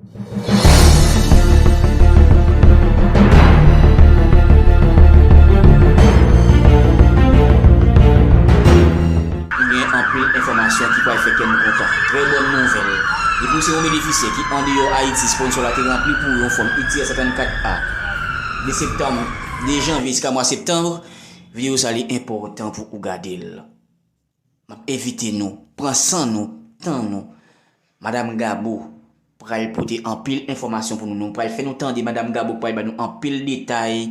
Nou gen anpil enfòmasyon ki pral fè kè nou kontan. Trè bòn nouvèl! Depi ou se yon benefisyè ki andeyò Ayiti, sponsò la te ranpli pou ou yon fòm UTIER 134 A. De septanm, de janvye jiska mwa septanm, videyo sa li enpòtan pou ou gade l. M ap envite nou pran san nou, tan nou. Madam Gabo pral pote anpil enfòmasyon pou nou. Nou pral fè nou tande Madam Gabo ki pral ba nou anpil detay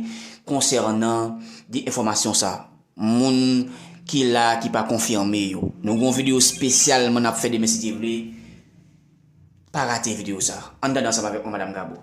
konsènan de enfòmasyon sa a. Moun ki la a ki pa konfime yo. Nou gen yon videyo spesyalman n ap fè demen si Dye vle. Pa rate video sa. Ann tande ansanm avèk mwen Madam Gabo.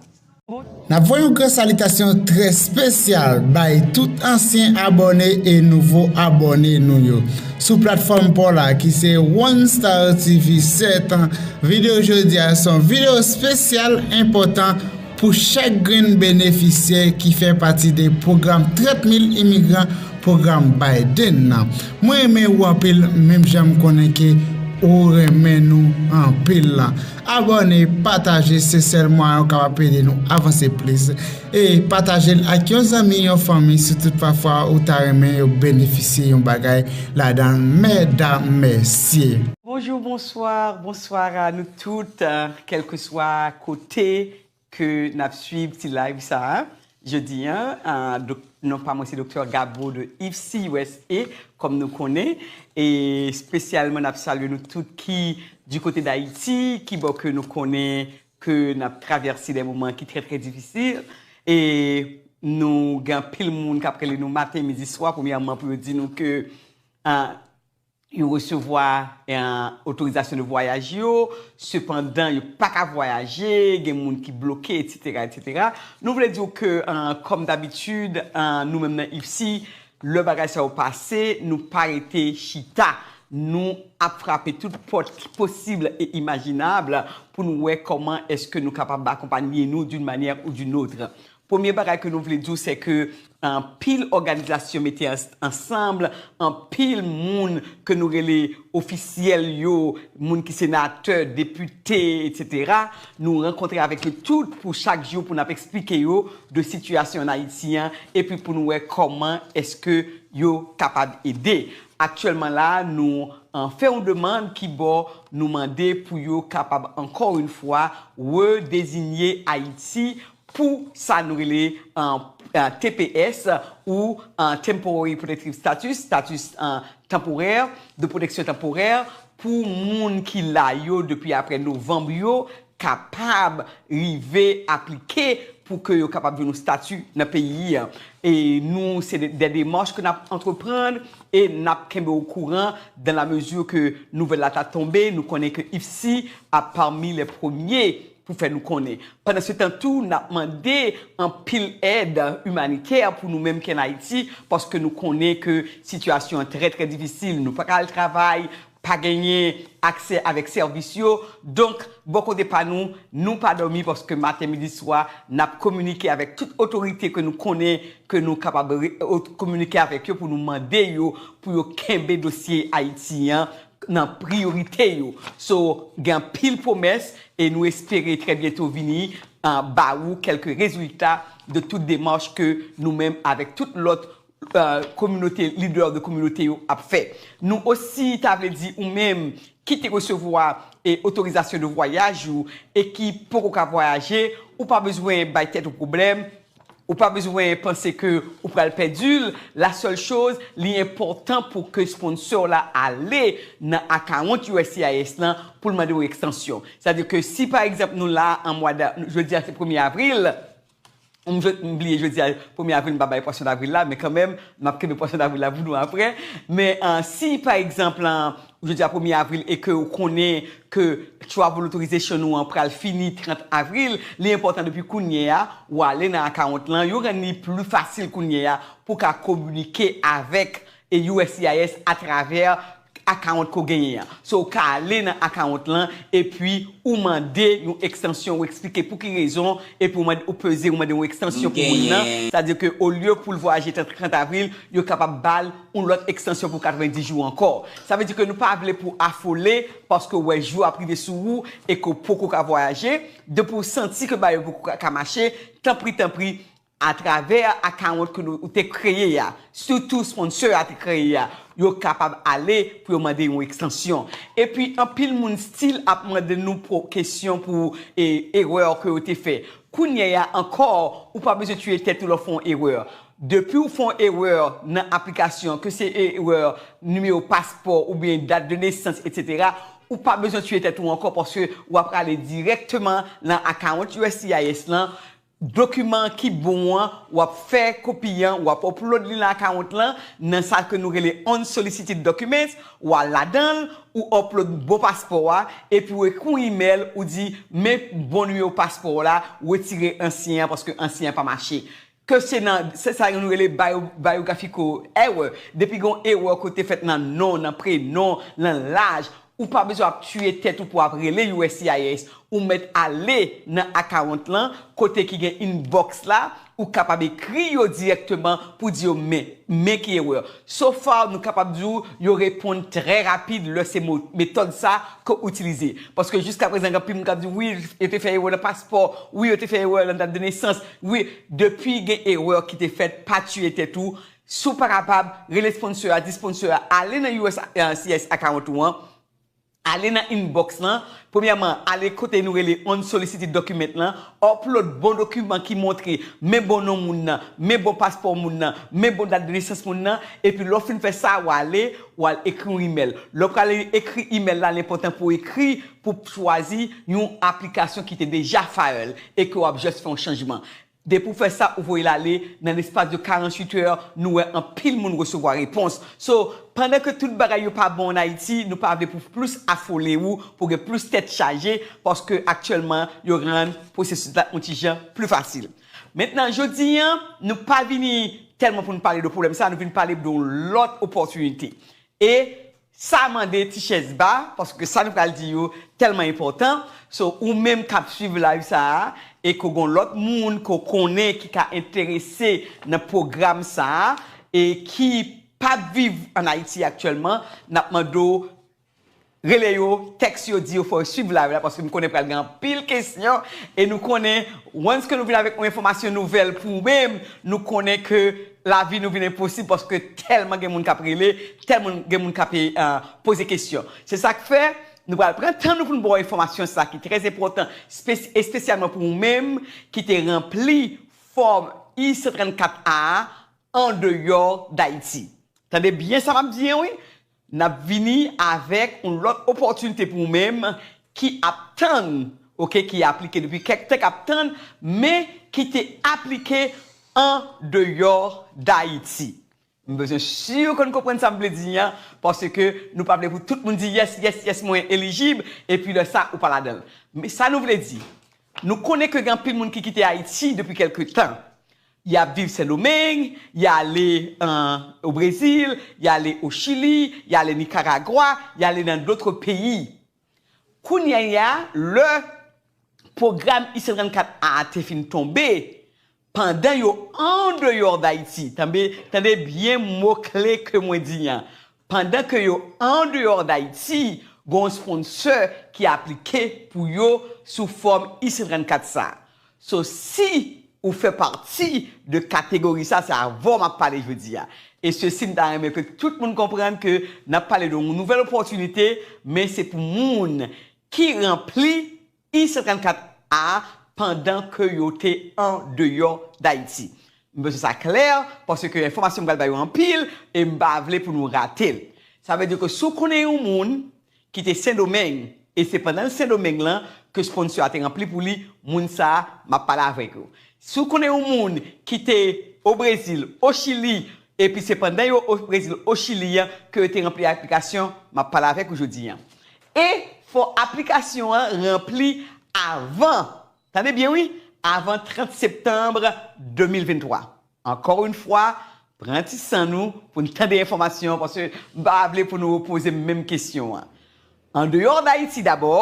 Nap voye yon gran salitasyon trè spesyal bay tout ansyen abòne e nouvo abòne nou yo sou platfòm paw la ki se One Star TV 7 an videyo jodia son videyo spesyal enpòtan Pou chak grenn benefisyè ki fè pati de pwogram 30 mil imigran pwogram Biden nan. Mwen renmen ou anpil menm jan m konnen ke ou renmen nou anpil la. Abòne, pataje se sèl mwayen ou kapab ede nou avanse plis. E pataje l ak yon zanmi, yon fanmi si tout pa fwa ou ta renmen yo benefisye yon bagay ladan l mèdam mesye. Bonjour bonsoir bonsoir a nou tout kelkeswa kote. Te ke nap swiv ti live sa jodi an non pa mwen se Doktè Gabo de IFSI usa kòm nou konnen e spesyalman nap salye nou tout ki di kote dayiti ki bò ke nou konnen ke nap travèse de moman ki trè trè difisil e nou gen anpil moun kap rele nou maten midi swa premyèman pou yo di nou ke Yo resevwa otorizasyon de vwayaj yo, sepandan yo pa ka vwayaje, gen moun ki bloke, etsetera, etsetera. Nou vle di w ke, kòm dabitid, nou menm nan IFSI, lè bagay sa yo pase, nou pa rete chita. Nou ap frape tout pòt ki posib e imajinab pou nou wè kòman èske nou kapab akonpanye nou d'une manière ou d'une autre. Premye bagay ke nou vle di w se ke anpil òganizasyon mete ansanm, anpil moun ke nou rele ofisyèl yo, moun ki senatè, depite, etc. Nou rankontre avèk yo tout pou chak jou pou n ap eksplike yo de sitiyasyon an Ayiti an epi pou nou wè kòman èske yo kapab ede. Aktyèlman la a nou fè yon demand ki bò nou mande pou yo kapab ankò yon fwa redezinye Ayiti pou sa nou rele tps ou Temporary Protective Status, status tanporè, de pwoteksyon tanporè, pou moun ki la yo depi apre novanm yo kapab rive aplike pou ke yo kapab jwenn yon stati nan peyi a. E nou se dè demach ke n ap antreprann e n ap kenbe w okouran dan la mezi ke nouvèl la ta tonbe, nou konnen ke IFSI ap pami lè premye pou fè nou konnen. Pandansetan tou, n ap mande anpil èd imanitè pou nou menm ki ann Ayiti, paske nou konnen ke sitiyasyon an trè trè difisil. Nou pa ka al travay, pa genyen aksè avèk sèvis yo. Donk, bò kote pa nou, nou pa dòmi paske maten, midi, swa, n ap kominike avèk tout otorite ke nou konnen, ke nou kapab kominike avèk yo pou nou mande yo pou yo kenbe dosye Ayiti an, nan priyorite yo so gen anpil pwomès e nou espere trè byento vini ba ou kèlke rezilta de tout demach ke nou menm avèk tout lòt kominote lidè de kominote yo ap fè nou osi ta vle di ou menm ki te resevwa otorizasyon de vwayaj ou e ki poko ka vwayaje ou pa bezwen bay tèt ou pwoblèm Ou pa bezwen panse ke ou pral pèdi l, la sèl choz li enpòtan pou ke sponsor la ale nan akawont uscis lan pou l mande w ekstansyon. Sa di ke si pa egzanp nou la an mwa da, jodi a se premye avril, m jwe, m bliye jodi a premye avril m pa bay pwason davril la men kanmenm m ap kenbe pwason davril la pou nou aprè men si pa egzanp Jodi a premye avril e ke ou konnen ke travel authorization ou an pral fini 30 avril, li enpòtan depi kounye a ou ale nan account lan, yo rann li pli fasil kounye a pou ka kominike avèk uscis atravè account ke w genyen an. So ou ka ale nan account lan epi ou mande yon ekstansyon, ou eksplike pou ki rezon epi ou mande, ou peze ou mande yon ekstansyon pou moun nan, sa vle di ke olye pou l vwayaje 30 avril, yo kapab ba l. yon lòt ekstansyon pou 90 jou ankò. Sa vle di ke nou pa vle pou afole paske ou wè jou ap rive sou ou e ke w poko ka vwayaje, depi w santi ke bagay yo poko ka mache, tanpri tanpri atravè akawont ke nou, ou te kreye a, sitou sponsor a te kreye a, yo kapab ale pou yo mande yon ekstansyon. Epi anpil moun stil ap mande nou pou kesyon pou erreur ke yo te fè. Kounyè a ankò ou pa bezwen tiye tèt ou lè w fè yon erreur. Depiw fon erreur nan aplikasyon ke se erreur nimewo paspò oubyen dat de nesans etc ou pa bezwen tiye tèt ou ankò paske wap prale dirèkteman lan account uscis lan dokiman ki bon an wap fè kopi an wap upload li lan account lan nan sa ke nou rele unsolicited documents wal ladanl ou upload bon paspò a epi ou ekri yon email ou di men bon nimewo paspò w la retire ansyen an paske ansyen an pa mache Ke se nan, se sa yo nou rele bio, biographical error, depi gen yon erè kote fèt nan non, nan prenon, nan laj, ou pa bezwen ap tiye tèt ou pou ap rele uscis, ou mèt ale nan account lan, kote ki gen inbox la, ou kapab ekri yo dirèkteman pou di yo men, men ki erè. So far nou kapab di w yo reponn trè rapid lè se mo, metòd sa ke w itilize. Paske jiskaprezan gen anpil moun kap di wi yo te fè erè nan paspò, wi yo te fè erè nan dat de nesans, Wi depi gen erreur ki te fèt pa tuye tèt ou si w pa kapab rele sponsor a di sponsor a ale nan uscis account ou an ale nan inbox lan premyèman ale kote nou rele unsolicited document lan upload bon dokiman ki montre men bon non moun nan men bon paspò moun nan men bon dat de nesans moun nan epi lè w fin fè sa w ale w al ekri yon email lè w prale ekri email la l enpòtan pou w ekri pou chwazi yon aplikasyon ki te deja file e ke wap just fè yon chanjman. Depi ou fè sa ou voye l ale, nan lespas de 48 heures nou wè anpil moun resevwa repons. So, pandan ke tout bagay yo pa bon an Ayiti, nou pa vle pou plis afole ou pou gen plis tèt chaje paske aktyèlman yo rann pwosesis la yon ti jan pli fasil. Mentnan jodi an, nou pa vini tèlman pou nou pale de pwoblèm sa, nou vin pale de yon lòt opòtinite e. Sa mande ti chèz ba paske sa nou pral di yo tèlman enpòtan, so ou menm kap swiv live sa a e ke w gon lòt moun ke w konnen ki ka enterese nan pwogram sa a e ki pap viv an Ayiti aktyèlman nap mande w rele yo, tèks yo, di yo fò yo swiv live la paske m konnen pral gen anpil kesyon e nou konnen once ke nou vin avèk yon enfòmasyon nouvèl pou ou menm nou konnen ke Lavi nou vin enposib paske tèlman gen moun k ap rele, tèlman gen moun k ap poze kesyon. Se sa k fè, nou pral pran tan nou pou nou ba w enfòmasyon sa ki trè enpòtan espesyalman pou ou menm ki te ranpli fòm I-134 A a andeyò Dayiti. Tande byen sa m ap di an wi! N ap vini avèk yon lòt opòtinite pou ou menm ki ap tann ok ki aplike depi kèk tan k ap tann men ki te aplike an deyò Dayiti m bezwen si ou konn konprann sa m vle di an paske nou pa vle pou tout moun di yès yès yès mwen elijib epi lè sa ou pa ladan l men sa nou vle di nou konnen ke gen anpil moun ki kite Ayiti depi kèlke tan Y ap viv Sendomeng, y ale o Brezil, y ale o Chili, y ale Nikaragwa, y ale nan dotre peyi. Kounya ya, lè pwogram ICE 34 a te fin tonbe, pandan yo andeyò Dayiti, tande byen mo kle ke mwen di an, Pandan ke yo andeyò Dayiti, gen yon sponsor ki aplike pou yo sou fòm I-134 sa. So si ou fè pati de kategori sa, se avè w m ap pale jodi a. E sesi m ta renmen ke tout moun konprann ke n ap pale de yon nouvèl opòtinite, men se pou moun ki ranpli I 134 a pandan ke yo te an deyò Dayiti. M bezwen sa klè paske enfòmasyon m pral ba yo anpil e m pa vle pou nou rate l. Sa vle di ke si w konnen yon moun ki te Sendomeng e se pandan l Sendomeng lan ke sponsor a te ranpli pou li, moun sa a m ap pale avèk ou. Si w konnen yon moun ki te o Brezil, o Chili epi se pandan yo o Brezil, o Chili an ke yo te ranpli aplikasyon, m ap pale avèk ou jodi an. E fò aplikasyon an ranpli avan, tande byen wi, avan 30 septanb 2023. Ankò yon fwa, pran ti san nou pou n tande enfòmasyon an paske m pa vle pou nou repoze m menm kesyon an. Andeyò Dayiti dabò,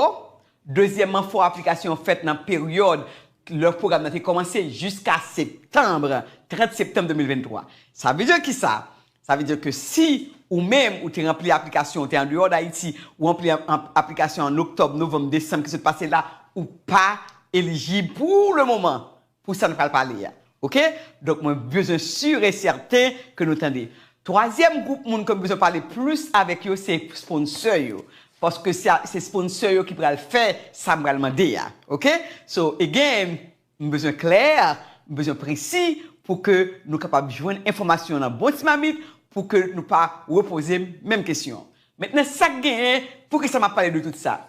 dezyèmman fò aplikasyon an fèt nan peryòd lè pwogram nan te kòmanse jiska septanb, 30 septanb 2023. Sa vle di kisa? Sa vle di ke si ou menm ou te ranpli aplikasyon, ou te andeyò Dayiti, ou ranpli aplikasyon an oktòb, novanm, desanm ki sot pase la, ou pa elijib pou le moman pou sa n pral pale a. Ok? Donk mwen bezwen sur e sèten ke nou tande. Twazyèm gwoup moun ke m bezwen pale plis avèk yo se sponsè yo. Paske se sponsè yo ki pral fè sa m pral mande a. Ok? So again. Nou bezwen klè, nou bezwen presi pou ke nou kapab jwenn enfòmasyon nan bon ti mamit pou ke nou pa repoze menm kesyon. Mentnan sa k genyen, poukisa m ap pale de tout sa?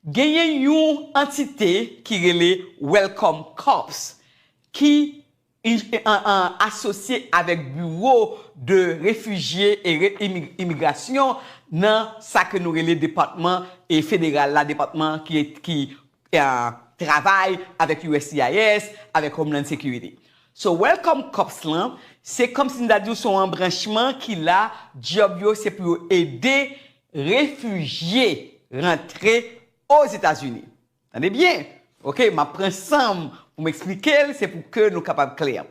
Genyen yon antite ki rele Welcome Corps ki asosye avèk biwo de refijye e imigrasyon nan sa ke nou rele depatman federal la, depatman ki travay avèk uscis avèk homeland security so welcome cops lan se kòm si m ta di w se yon anbranchman ki la djòb yo se pou yo ede refijye rantre ozetazini tande byen ok m ap pran san m pou m eksplike l se pou ke nou kapab klè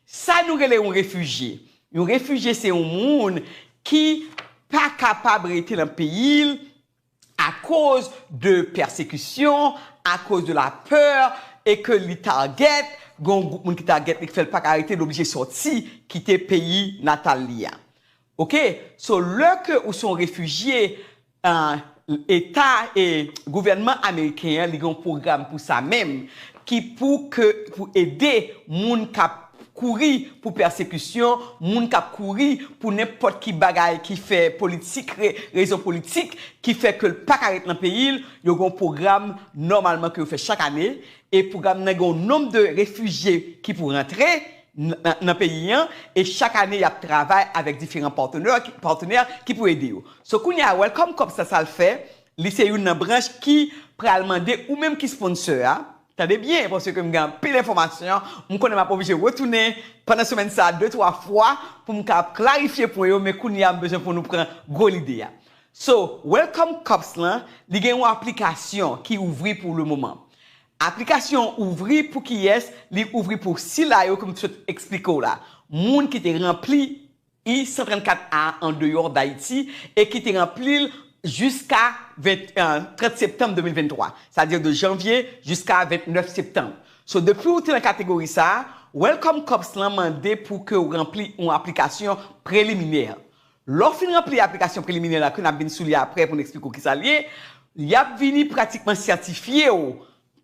sa nou rele yon refijye yon refijye se yon moun ki pa kapab rete nan peyi l. akoz de pèsekisyon, akoz de la peur e ke li target, gen yon gwoup moun ki target li ki fè l pa ka rete li oblije sòti kite peyi natal li a. Ok, so lè ke ou se yon refijye, eta e gouvènman ameriken an li gen yon pwogram pou sa menm ki pou ke pou ede moun k ap kouri pou pèsekisyon, moun k ap kouri pou nenpòt ki bagay ki fè politik rezon politik ki fè ke l pa ka ret nan peyi l, yo gen yon pwogram nòmalman ke yo fè chak ane e pwogram nan gen yon nonb de refijye ki pou rantre nan peyi an e chak ane y ap travay avèk diferan patenè ki pou ede yo. So kounye a Welcome Corps sa sa l fè, li se youn nan branch ki pral mande ou menm ki sponsor a, Tande byen paske m gen anpil enfòmasyon, m konnen m ap oblije retounen pandan semèn sa a de twa fwa pou m ka ap klarifye pwen yo men kounye a m bezwen pou nou pran gwo lide a. So, Welcome Cups lan, li gen yon aplikasyon ki ouvri pou le moman. Aplikasyon an ouvri pou kiyès? Li ouvri pou sila yo ke m t sot eksplike w la, moun ki te ranpli. I 134 a an deyò Dayiti e ki te ranpli l jiska 30 septanm 2023, sa di de janvye jiska 29 septanm. So depi ou te nan kategori sa a, Welcome Corps lan mande pou ke ou ranpli yon aplikasyon preliminè. Lè w fin ranpli aplikasyon preliminè la ke n ap vin sou li aprè pou n eksplike w kisa l ye, y ap vini pratikman sètifye w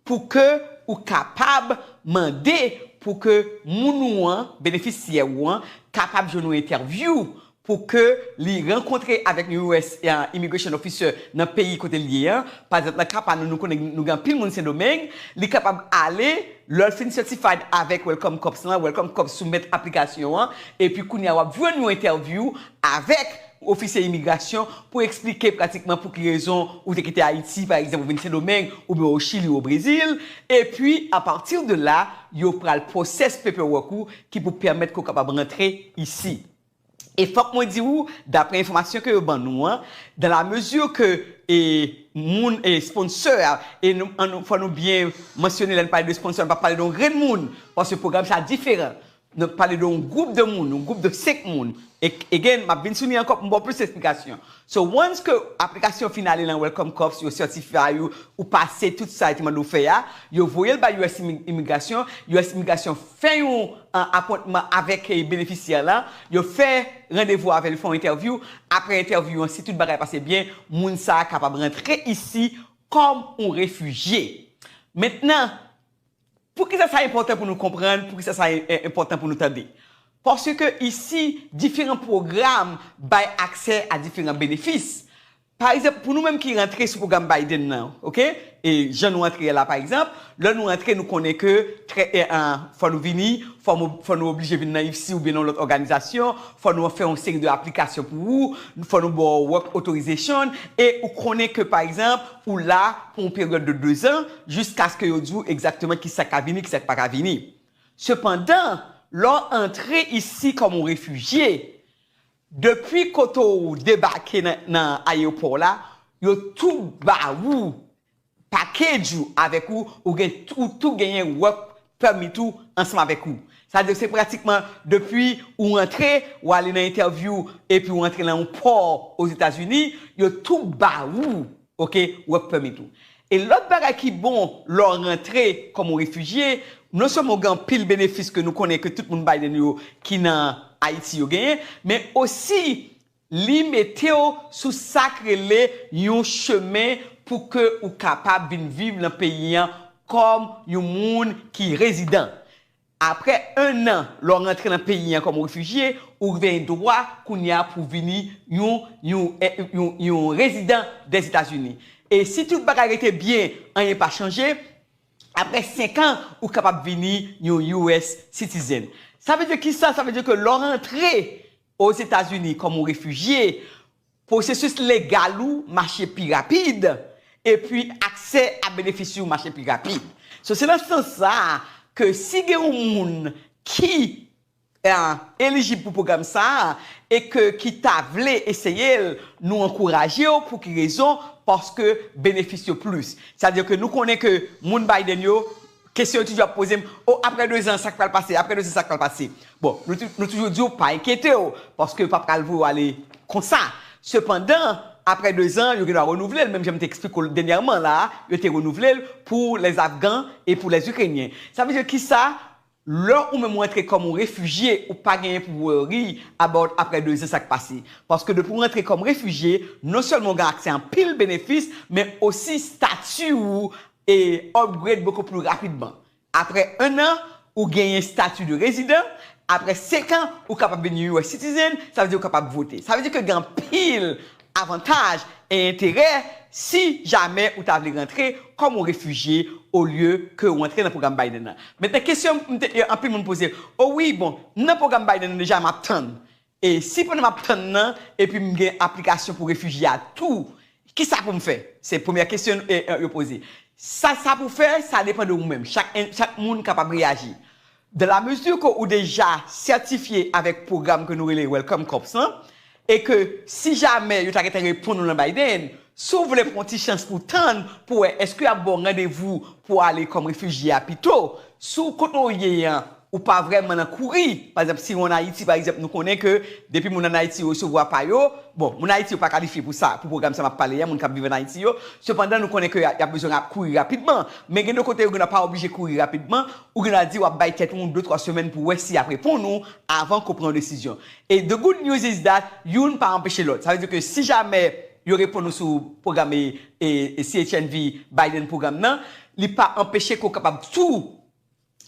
Pou ke ou kapab mande pou ke moun ou an, benefisyè ou an, kapab jwenn yon entèvyou, pou ke li rankontre avèk yon US Immigration Officer nan peyi kote li ye an, pa egzanp nan ka pa nou, nou konnen nou gen anpil moun Sendomeng, li kapab ale, lè l fin certified avèk Welcome Corps lan, Welcome Corps soumèt aplikasyon an, epi kounye a w ap jwenn yon entèvyou avèk. Ofisye imigrasyon pou eksplike pratikman pou ki rezon ou te kite Ayiti, pa egzanp ou vin Sendomeng oubyen o Chili o Brezil, epi apati de la yo pral pwosès paperwork ou ki pou pèmèt ke w kapab rantre isi. E fòk mwen di ou, dapre enfòmasyon ke yo ban nou an, dans la mesure ke e moun e sponsor a, e nou an nou fò nou byen mansyone lè nou pale de sponsor nou pa pale de yon grenn moun, paske pwogram sa diferan. Nap pale de yon group de moun, yon group de 5 moun. Again, map vin sou li ankò pou m ba w plis esplikasyon. So, once ke aplikasyon fin ale lan Welcome Corps, yo certify ou, ou pase tout sa yo te mande w fè a, yo voye l bay us Imigrasyon, us Imigrasyon fè yon appointment avèk benefisyè lan, yo fè randevou avè l, yo fè yon entèvyou, aprè entèvyou an si tout bagay pase byen, moun sa a kapab rantre isi kòm yon refijye. Mentnan. Poukisa sa enpòtan pou nou konprann? Poukisa sa enpòtan pou nou tande? Paske isi, diferan pwogram bay aksè a diferan benefis. Pa egzanp, pou nou menm ki rantre sou pwogram Biden nan, ok, e jan nou antre la pa egzanp, lè nou antre nou konnen ke trè en, fò nou vini, fò nou oblije vin nan IFSI oubyen nan yon lòt òganizasyon, fò nou fè yon seri de aplikasyon pou ou, fò nou ba w work authorization, e ou konnen ke pa egzanp, ou la pou yon peryòd de dezan jiskaske yo di w egzakteman ki sa k ka vini, ki sa k pa ka vini. Sepandan, lè w antre isi kòm yon refijye, depi kote w debake nan ayewopò w la, yo tou ba ou pakej ou avèk ou, ou tou genyen wòk Permit ou ansanm avèk ou. Sa di se pratikman depi ou rantre, ou ale nan entèvyou epi ou rantre nan yon pò Ozetazini, yo tou ba ou ok work permit ou. E lòt bagay ki bon lè w rantre kòm yon refijye, non sèlman ou gen anpil benefis ke nou konnen ke tout moun Biden yo ki nan Ayiti yo genyen, men osi Li mete w sou sa k rele yon chemen pou ke ou kapab vin viv lan peyi an kòm yon moun ki rezidan. Aprè 1 an lè w rantre lan peyi an kòm refijye, ou gven dwa kounye a pou w vini yon yon yon yon rezidan dè Etazini. E si tout bagay rete byen, anyen pa chanje, aprè 5 an ou kapab vini yon US citizen. Sa vle di ki sa? Sa vle di ke lè w rantre Ozetazini kòm ou refijye, pwosesis legal ou mache pi rapid, epi aksè a benefis yo mache pi rapid. So se nan sans sa a ke si gen yon moun ki elijib pou pwogram sa a e ke ki ta vle eseye l, nou ankouraje w pou ki rezon, paske benefis yo plis. Sa vle di ke nou konnen ke moun Biden yo, Kesyon yo toujou ap poze m, oh aprè 2 zan sa k pral pase, aprè 2 zan sa k pral pase. Bon, nou toujou di yo pa enkyete w, paske yo pa pral voye w ale konsa. Sepandan, aprè 2 zan, yo gendwa renouvle l, menm jan m te eksplike w l dènyèman la a, yo te renouvle l pou les Afghans e pou les Ukrainiens. Sa vle di ki sa? Lè ou menm ou antre kòm yon refijye, ou pa genyen pou worry about aprè 2 zan sa k pase. Paske depi w antre kòm refijye, non sèlman w gen aksè a anpil benefis, men osi stati ou e upgrade beaucoup plus rapidement. Apre 1 an, ou genyen stati de rezidan, apre 5 an, ou kapab vin yon US citizen, sa vle di ou kapab vote. Sa vle di ke gen anpil avantaj e enterè si jamè ou ta vle rantre kòm yon refijye olye ke ou antre nan pwogram Biden nan. Mentnan kesyon m te anpil moun poze, o wi bon, m nan pwogram Biden nan deja, m ap tann. E si pandan m ap tann nan epi m gen aplikasyon pou refijye a tou, ki sa pou m fè? Se premyè kesyon yo poze. Sa sa pou fè, sa depan de ou menm. Chak moun kapab reyaji. Dan la mezi ke ou deja sètifye avèk pwogram ke nou rele Welcome Corps lan, e ke si jamè yo ta gentan reponn ou nan Biden, si w vle pran yon ti chans pou w tann pou wè èske y ap ba w randevou pou w ale kòm refijye a pito, si w kote w ye an, Ou pa vrèman nan kouri. Pa egzanp, si ou an Ayiti, pa egzanp, nou konnen ke depi moun an Ayiti yo resevwa pa yo, bon, moun Ayiti yo pa kalifye pou sa, pou pwogram sa m ap pale a, moun k ap viv an Ayiti yo, sepandan nou konnen ke y ap bezwen ra, kouri rapidman. Men gen de kote ou gen dwa pa oblije kouri rapidman, ou gen dwa di w ap bay tèt ou yon de twa semèn pou wè si y ap reponn ou avan ke w pran yon desizyon. E the good news is that youn pa anpeche lòt. Sa vle di ke si jamè yo reponn ou sou pwogram e, e, CHNV, Biden pwogram nan, li pa anpeche ke w kapab tou,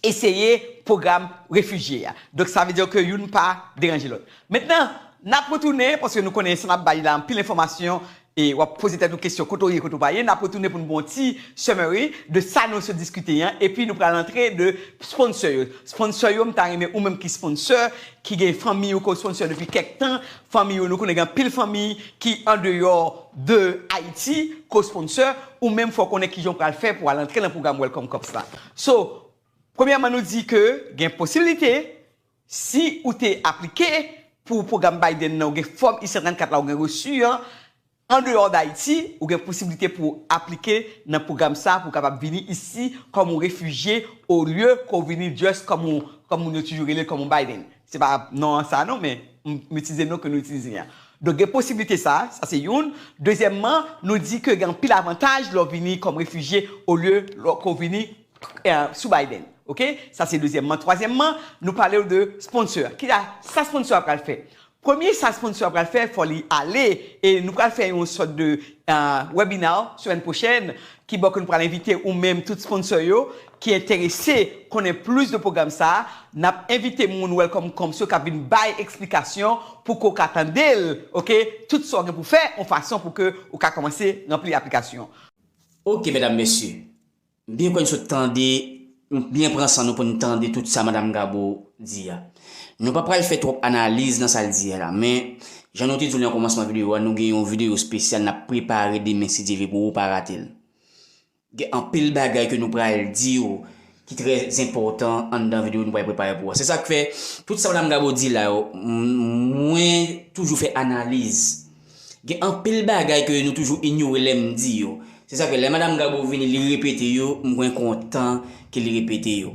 eseye pwogram refijye a. Donk sa vle di ke youn pa deranje lòt. Mentnan, n ap retounen, paske nou konnen sa n ap bay la anpil enfòmasyon e w ap poze tèt ou kesyon kote w ye, kote w pa ye. N ap retounen pou nou ba w yon ti summary de sa nou sot diskite an. Epi nou pral antre de sponsor yo. Sponsor yo, m ta renmen ou menm ki sponsor, ki gen fanmi ou ke w sponsor depi kèk tan, fanmi ou, nou konnen gen anpil fanmi ki andeyò de Ayiti ke w sponsor, ou menm fò w konnen kijan w pral fè pou w al antre nan pwogram Welcome Corps la. So, premyèman nou di ke gen posibilite, si ou te aplike pou pwogram Biden nan, ou gen fòm I-134 la, ou gen reçu an, andeyò Dayiti, ou gen posibilite pou aplike nan pwogram sa a pou w kapab vini isi kòm yon refijye olye ke w vini just kòm yon, kòm moun yo toujou rele l, kòm yon Biden. Se pa non an sa non men m itilize non ke nou itilize an. Donk gen posibilite sa, sa se youn. Dezyèmman, nou di ke gen anpil avantaj lè w vini kòm refijye olye lò ke w vini sou Biden. Ok? Sa se dezyèmman. Twazyèmman, nou pale w de sponsor a. Kisa sa sponsor a pral fè? Premye sa sponsor a pral fè, fò li ale e nou pral fè yon sòt de webinar semèn pwochèn ki bò ke nou pral envite ou menm tout sponsor yo ki enterese konnen plis de pwogram sa a, n ap envite moun Welcome Camps yo k ap vin bay eksplikasyon pou ke w ka tande l ok, tout sa w gen pou w fè yon fason pou ke w ka kòmanse ranpli aplikasyon. Ok medam mesye, m byen kwè n sot tande, nou t byen pran san nou pou n tande tout sa madam Gabo di a. Nou pa pral fè twòp analiz nan sa l di a la men, jan nou te di w nan kòmansman videyo a nou gen yon videyo spesyal n ap prepare demen si Dye vle pou ou pa rate l. Gen anpil bagay ke nou pral diw ki trè enpòtan anndan video nou pral prepare pou ou a. Se sak fè tout sa Madam Gabo di la yo mwen toujou fè analiz. Gen anpil bagay ke nou toujou inyore lèm di yo. Se sak fè lè Madam Gabo vini li repete yo mwen kontan ke li repete yo.